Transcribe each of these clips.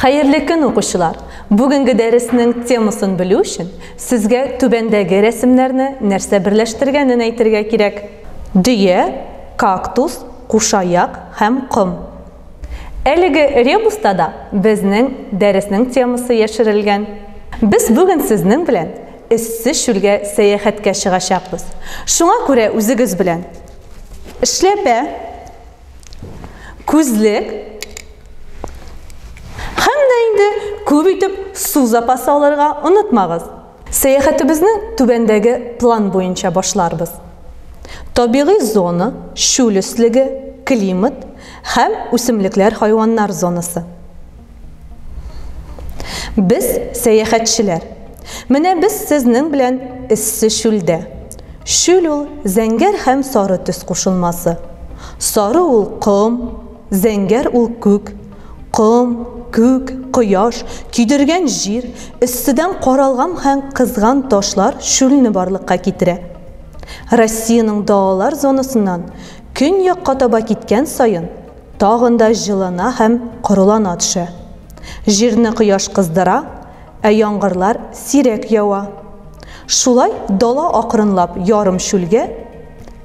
Хәерле көн, укучылар! Бүгенге дәреснең темасын белү өчен, сезгә түбәндәге рәсемнәрне нәрсә берләштергәнен әйтергә кирәк. Дөя, кактус, кушаяк һәм ком. Әлеге ребуста да безнең дәреснең темасы яшерелгән. Без бүген сезнең белән эссе чүлгә сәяхәткә чыгачакбыз. Шуңа күрә үзегез белән эшләпә, Күзлек. Һәм дә инде күп итеп су запасы алырга онытмагыз. Сәяхәтебезне түбәндәге план буенча башларбыз. Табигый зона, чүл өслеге, климат һәм үсемлекләр-хайваннар зонасы. Без сәяхәтчеләр. Менә без сезнең белән эссе чүлдә. Чүл ул зәңгәр һәм сары төс кушылмасы. Сары ул ком, зәңгәр ул күк. Ком, күк, кояш, көйдергән җир, өстедән каралган һәм кызган ташлар чүлне барлыкка китерә. Россиянең далалар зонасыннан көньякка таба киткән саен, Тагын да җылына һәм корылана төшә. Җирне кояш кыздыра, ә яңгырлар сирәк ява. Шулай дала акрынлап ярым чүлгә,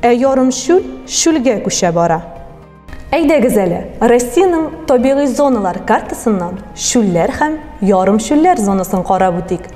ә ярым чүл чүлгә күчә бара. Әйдәгез әле, Россиянең табигый зоналар картасыннан чүлләр һәм ярым чүлләр зонасын карап үтик.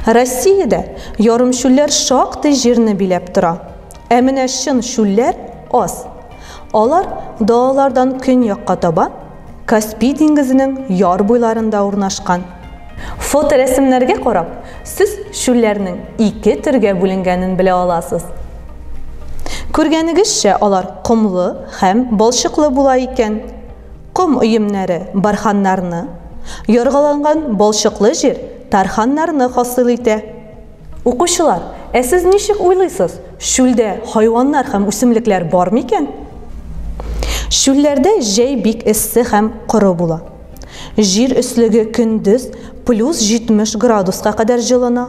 Россиядә ярым чүлләр шактый җирне биләп тора. Ә менә чын чүлләр аз. Алар далалардан көньякка таба, Каспий диңгезенең яр буйларында урнашкан. Фоторәсемнәргә карап, сез чүлләрнең ике төргә бүленгәнен белә аласыз. Күргәнегезчә, алар комлы һәм балчыклы була икән. Ком өемнәре барханнарны, яргаланган балчыклы җир тарханнарны хасил итә. Укучылар, ә сез ничек уйлыйсыз, чүлдә хайваннар һәм үсемлекләр бар микән? Чүлләрдә җәй бик эссе һәм коры була. Җир өслеге көндез плюс 70 градуска кадәр җылына,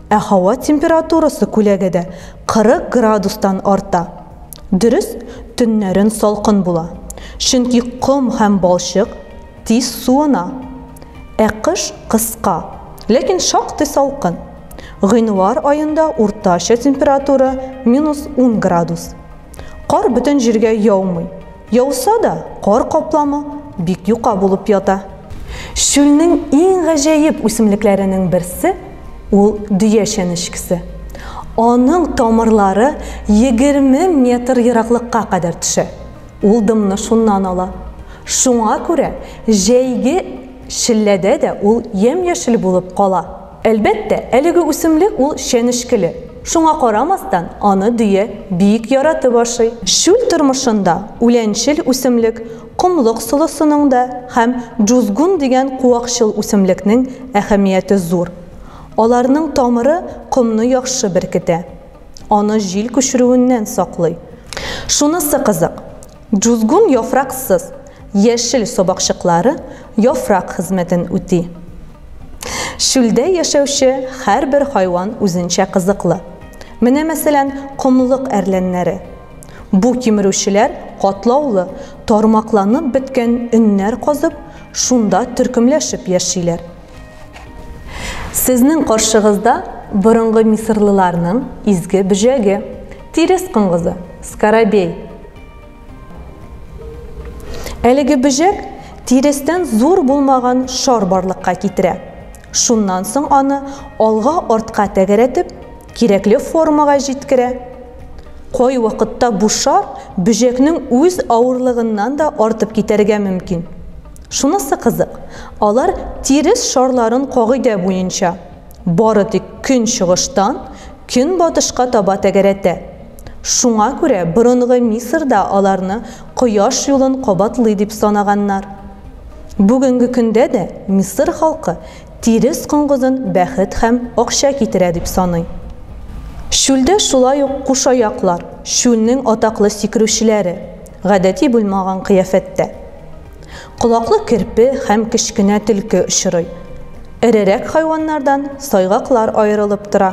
ә һава температурасы күләгәдә 40 градустан арта. Дөрес, төннәрен салкын була, чөнки ком һәм балчык, тиз суына. Ә кыш кыска, ләкин шактый салкын. Гыйнвар аенда уртача температура минус 10 градус. Кар бөтен җиргә яумый. Яуса да, кар капламы бик юка булып ята. Чүлнең иң гаҗәеп үсемлекләренең берсе, ул дөя чәнечкесе. Аның тамырлары 20 метр ераклыкка кадәр төшә. Ул дымны шуннан ала. Шуңа күрә җәйге челләдә дә ул ямь-яшел булып кала. Әлбәттә, әлеге үсемлек ул чәнечкеле. Шуңа карамастан, аны дөя бик яратып ашый. Чүл тормышында үләнчел үсемлек, комлык солысының да һәм джузгун дигән куакчыл үсемлекнең әһәмияте зур. Аларның тамыры комны яхшы беркетә. Аны җил күчерүеннән саклый. Шунысы кызык, джузгун яфраксыз, яшел сабакчыклары яфрак хезмәтен үти. Чүлдә яшәүче һәрбер хайван үзенчә кызыклы. Менә, мәсәлән, комлык әрләннәре. Бу кимерүчеләр катлаулы, тармакланып беткән өннәр казып, шунда төркемләшеп яшиләр. Сезнең каршыгызда борынгы мисырлыларның изге бөҗәге, тирес коңгызы, скоробей. Әлеге бөҗәк тирестән зур булмаган шар барлыкка китерә. Шуннан соң аны алга-артка тәгәрәтеп, кирәкле формага җиткерә. Кой вакытта бу шар бөҗәкнең үз авырлыгыннан да артып китәргә мөмкин. Шунысы кызык, алар тирес шарларын кагыйдә буенча, бары тик көнчыгыштан көнбатышка таба тәгәрәтә. Шуңа күрә борынгы Мисырда аларны кояш юлын кабатлый дип санаганнар. Бүгенге көндә дә Мисыр халкы тирес коңгызын бәхет һәм акча китерә дип саный. Чүлдә шулай ук кушаяклар, чүлнең атаклы сикерүчеләре, гадәти булмаган кыяфәттә. Колаклы керпе һәм кечкенә төлке очрый. Эрерәк хайваннардан сайгаклар аерылып тора.